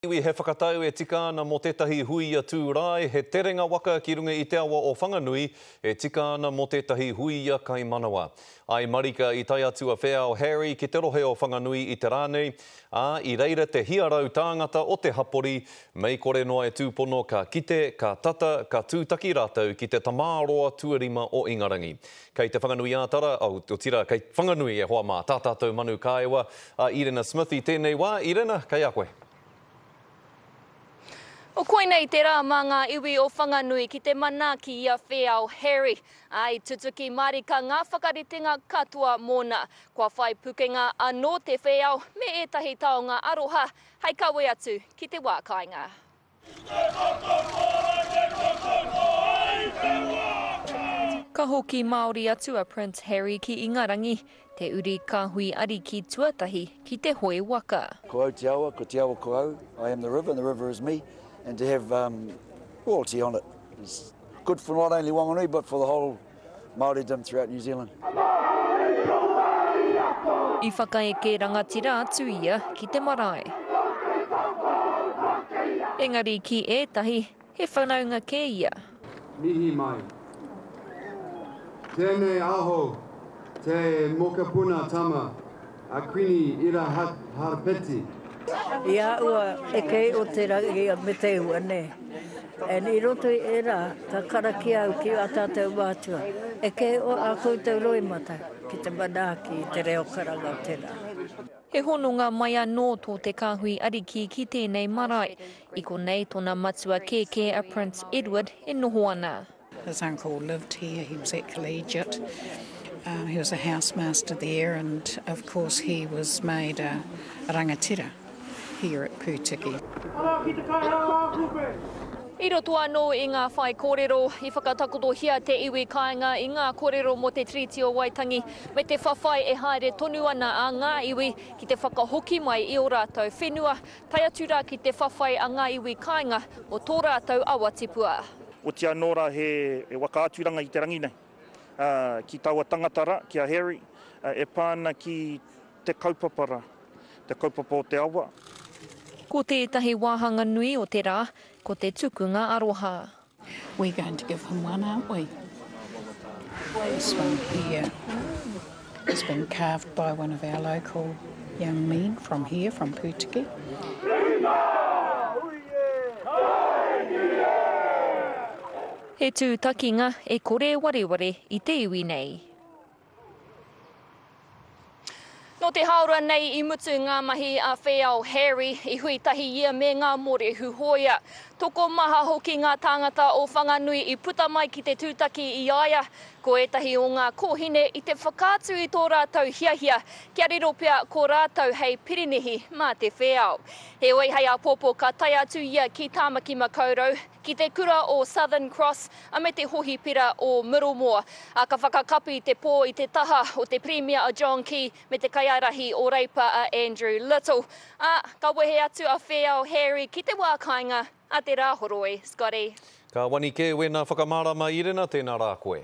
Iwi he whakatau e tika ana mō tētahi hui a Tūrae, he terenga waka ki runga i te awa o Whanganui e tika ana mō tētahi hui a Kaimanawa. I marika i tae atu a Wheao Harry ki te rohe o Whanganui i te rā nei, ā, i reira te hia rau tāngata o te hapori, mei kore noa e tūpono ka kite, ka tata, ka tūtaki rātou ki te tamāroa tuarima o Ingarangi. Kei Te Whanganui-ā-Tara, otirā, kei Whanganui e hoa mā, tā tātou manu kāewa a Irena Smith i tēnei wā. Irena, kei a koe. O koinei te rā mā ngā iwi o Whanganui ki te manaaki i a Wheao Harry, ā, i tutuki mārika ngā whakaritenga katoa mōna. Kua whai pukenga anō te wheao me ētahi taonga aroha hei kawe atu ki te wā kāinga. Ka hoki Māori atu a Prince Harry ki Ingarangi, te uri kāhui ariki tuatahi ki te hoe waka. Ko au te awa, ko te awa ko au, I am the river and the river is me, and to have royalty on it is good for not only Wanganui but for the whole Māoridom throughout New Zealand. I whakaeke rangatira atu ia ki te marae. Engari ki ētahi, he whanaunga kē ia. Mihi mai. Tēnei aho, te mokopuna tama. A Kuini Ira Harpeti. I aua e kei o te rangi a me te iwa ne. And i roto i era ka karakia au ki a tatou mātua e kei o a koutou roimata ki te manaaki i te reo karanga o te ra. He hononga mai anō tō te Kāhui Ariki ki tēnei marae. I konei tōna matua kēkē a Prince Edward e noho ana. His uncle lived here, he was at Collegiate, um, he was a housemaster there, and of course he was made a, a rangatira here at Pūtiki. I roto anō i ngā whai kōrero, i whakatakotohia te iwi kāinga i ngā kōrero mō te Tiriti o Waitangi me te whawhai e haere tonu ana a ngā iwi ki te whakahoki mai i ō rātou whenua, tae atu rā ki te whawhai a ngā iwi kāinga mō tō rātou awa tipua. Otia anō rā he whakaaturanga i te rangi nei, ki taua tangata rā, ki a Harry, e pā ana ki te kaupapa rā, te kaupapa o te awa. Ko tētahi wāhanga nui o te rā, ko te tukunga aroha. We're going to give him one, aren't we? This one here. It's been carved by one of our local young men from here, from Pūtiki. He tūtakinga e kore wareware i te iwi nei. Nō te hāora nei i mutu ngā mahi a Whēao Harry i hui tahi ia me ngā mōrehu hōia. Tokomaha hoki ngā tāngata o Whanganui i puta mai ki te tūtaki i a ia, Ko ētahi o ngā kōhine i te whakaatu i tō rātou hiahia kia riro pea ko rātou hei pirinihi mā te whēao. Heoi hei āpōpō ka tae atu ia ki Tāmaki Makaurau, ki te kura o Southern Cross a me te hohipera o Middlemore, ā, ka whakakapi te pō i te taha o te Pirimia a John Key me te kaiārahi o Reipa a Andrew Little, ā, ka wehe atu a Whēao Harry ki te wā kāinga. A te Rāhoroi, Scotty. Ka wani kē wēnā whakamārama Irena, tēnā rā koe.